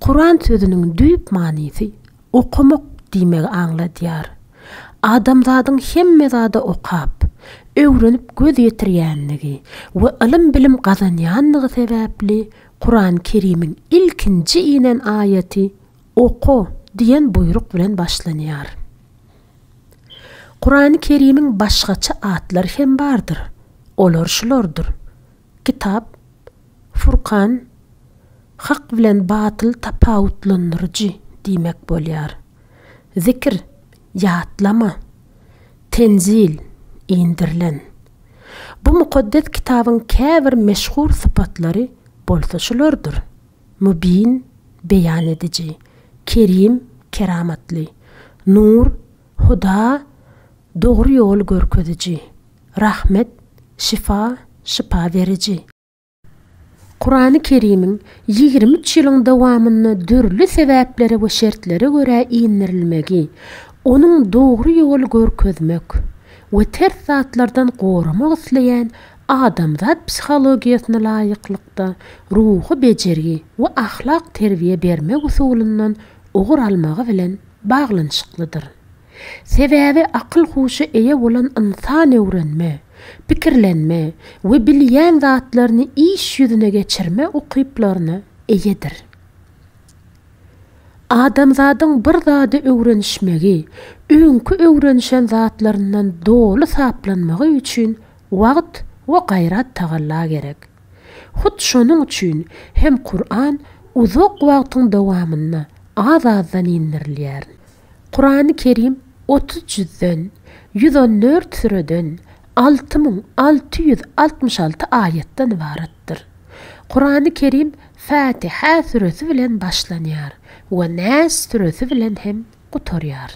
Kuran sözüniň düýp manysy okamak diýmegi aňladýar. Adamzadyň hemme zada okap, öwrenip göz ýetirýänligi we ylym-bilim gazanýanlygy sebäpli Kuran-Kerimiň ilkinji inen aýaty Oka! diýen buýruk bilen başlanýar. Kurany-Kerimiň başgaça atlary hem bardyr. Olar şulardyr. Kitap, Furkan, Hak bilen batyl tapawutlandyryjy diýmek bolýar. Zikr, Ýatlama, Tenzil, Indirilen. Bu mukaddes kitabyň käbir meşhur sypatlary bolsa şulardyr, Mübin, Beýan ediji, Kerim, Keramatly, Nur, Huda dogry ýol görkeziji, Rahmet şyfa şypa beriji. Kurany Kerimiň ýigrimi üç ýylyň dowamynda dürli sebäplere we şertlere görä indirilmegi, onuň dogry ýoly görkezmek we ters zatlardan goramak isleýän adamzat psihologiýasyna laýyklykda ruhy bejergi we ahlak terbiýe bermek usulyndan ugur almagy bilen, baglanyşyklydyr. Sebäbi akyl-huşa eýe bolan ynsan öwrenme, pikirlenme we bilýän zatlaryny iş ýüzüne geçirme ukyplaryna eýedir. Adamzadyň bir zady öwrenişmegi, öňki öwrenişen zatlaryndan doly saplanmagy üçin wagt we gaýrat-tagalla gerek. Hut şonuň üçin hem Kuran uzak wagtyň dowamynda az-azdan indirilýär. Kurany Kerim otuz jüzden, ýüz on dört süreden, alty müň alty ýüz altmyş alty aýatdan ybaratdyr. Kurany Kerim Fätiha süresi bilen başlanýar we Nas süresi bilen hem gutarýar.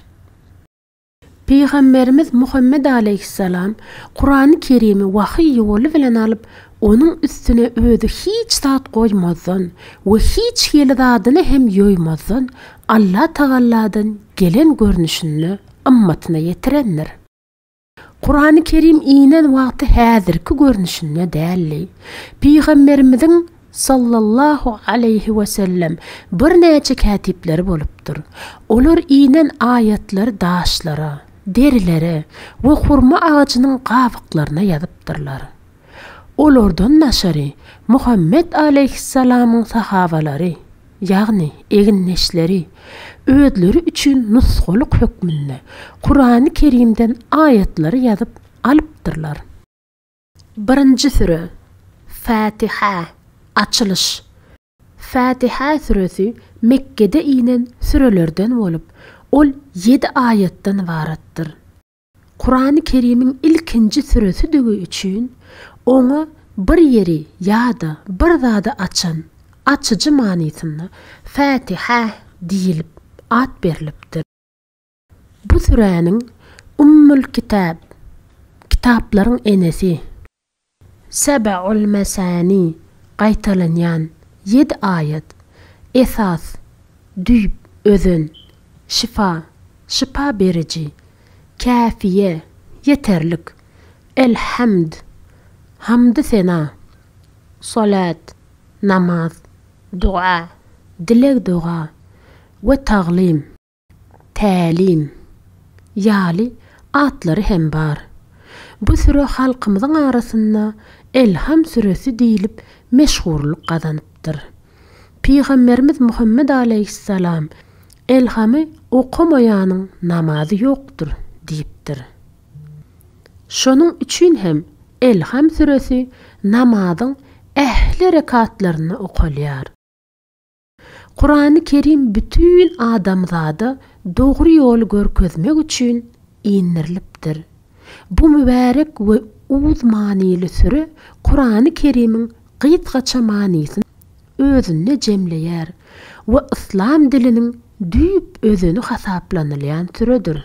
Pygamberimiz Muhammet alaýhyssalam Kurany Kerimi wahyý ýoly bilen alyp, onuň üstüne özi hiç zat goýmazdan we hiç hili zadyny hem ýoýmazdan Allah Tagalladan gelen görnüşinde ymmatyna ýetirendir. Kurany Kerim inen wagty häzirki görnüşinde däldi. Pygamberimiziň Sallallahu aleýhi wesellem birnäçe kätipleri bolupdyr. Olar inen aýatlary daşlara, derilere we hurma agajynyň gabyklaryna ýazypdyrlar. Olardan daşary Muhammet aleýhissalamyň sahabalary, ýagny egindeşleri, özleri üçin nusgalyk hökmünde Kurany Kerimden aýatlary ýazyp alypdyrlar. Birinji süre, Fätiha, Açylyş. Fätiha süresi Mekgede inen sürelerden bolup, ol ýedi aýatdan ybaratdyr. Kurany Kerimiň ilkinji süresidigi üçin oňa bir ýeri ýa-da bir zady açan, açyjy manysynda, Fätiha diýlip at berlipdir. Bu süräniň Ummul Kitap, Kitaplaryň enesi, Seb'ul Mesani, Gaýtalanýan ýedi aýat, Esas, Düýp, Özen, Şyfa, Şypa beriji, Käfiýe, Ýeterlik, El-Hamd, Hamdy-sena, Solat, Namaz, Doga, Dileg-doga, we Taglym. Tälim. Ýaly atlary hem bar. Bu süre halkymyzyň arasynda Elham süresi diýlip meşhurlyk gazanypdyr. Pygamberimiz Muhammet alaýhyssalam, Elhamy okamaýanyň namazy ýokdur diýipdir. Şonuň üçin hem Elham süresi namazyň ähli rekatlarynda okalýar. Kurany Kerim bütin adamzada dogry ýoly görkezmek üçin indirilipdir. Bu mübärek we uz manyly süre Kurany Kerimiň gysgaça manysyny özünde jemleýär we yslam diliniň düýp özeni hasaplanylýan süredir.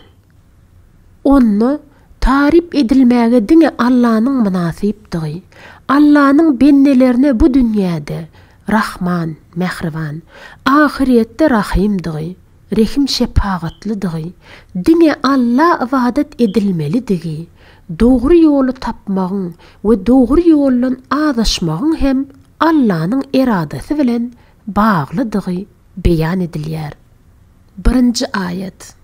Onda taryp edilmäge diňe Allanyň mynasypdygy, Allanyň bendelerine bu dünýäde Rahman, mähriban, ahyrýetde Rahymdygy, rehim-şepagatlydygy, diňe Alla ybadat edilmelidigi, dogry ýoly tapmagyň we dogry ýoldan azaşmagyň hem Allanyň eradasy bilen baglydygy beýan edilýär. Birinji aýat.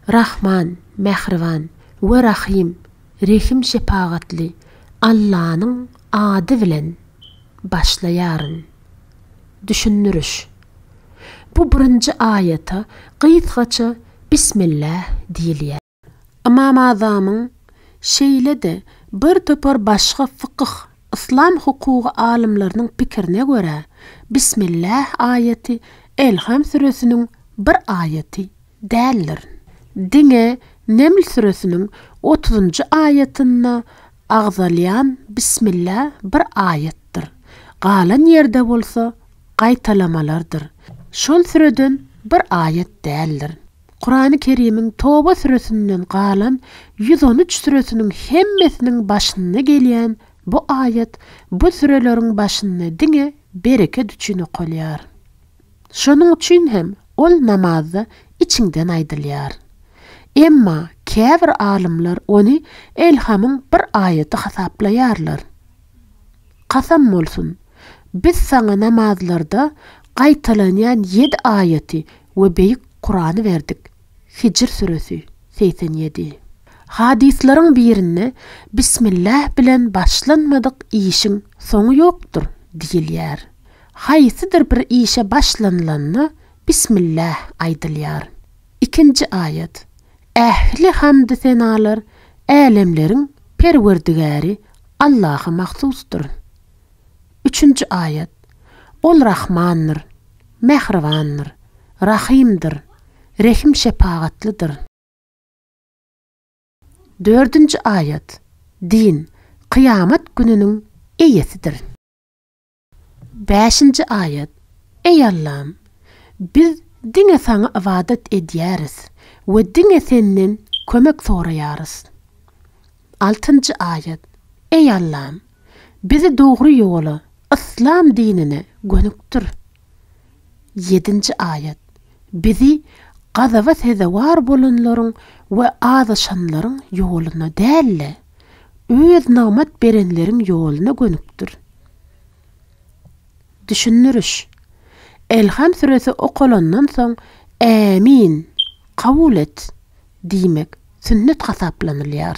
Rahman, mähriban, we Rahym, rehim-şepagatly, Allanyň Ady bilen başlaýaryn. Düşündiriş. Bu birinji aýata gysgaça Bismilläh diýilýär. Ymam Azamyň, şeýle-de bir topar başga fykyh, yslam hukugy alymlarynyň pikirine görä, Bismilläh aýaty Elham süresiniň bir aýaty, Däldir. Diňe Neml süresiniň otuzynjy aýatynda agzalýan Bismillä bir aýatdyr. Galan ýerde bolsa gaýtalamalardyr. Şol süreden bir aýat däldir. Kurany Kerimiň Toba süresinden galan ýüz on üç süresiniň hemmesiniň başynda gelýän bu aýat bu süreleriň başynda diňe bereket üçin okalýar. Şonuň üçin hem ol namazda içiňden aýdylýar. Emma käbir alymlar ony elhamyň bir aýaty hasaplaýarlar. Kasam bolsun, biz saňa namazlarda gaýtalanýan ýedi aýaty we beýik Kurany berdik. Hijr süresi, segsen ýedi. Hadyslaryň birinde Bismilläh bilen başlanmadyk işiň soňy ýokdur diýilýär. Haýsydyr bir işe başlanylanda Bismilläh aýdylýar. Ikinji aýat, Ähli hamdy-senalar Älemleriň Perwerdigäri Allaha mahsusdyr. Üçünji aýat, Ol Rahmandyr, Mähribandyr, Rahymdyr. rehim-şepagatlydyr. Dördünji aýat, Din, kyýamat gününiň eýesidir. Bäşinji aýat, Eý Allam! Biz diňe Saňa ybadat edýäris we diňe Senden kömek soraýarys. Altynjy aýat, Eý Allam! Bizi dogry ýola, yslam dinine, gönükdir. Ýedinji aýat, Bizi gazaba sezewar bolanlaryň we azaşanlaryň ýoluna däl-de, Öz nygmat berenleriň ýoluna gönükdir. Düşündiriş. Elham süresi okalandan soň Ämin! Kabul et! diýmek sünnet hasaplanylýar.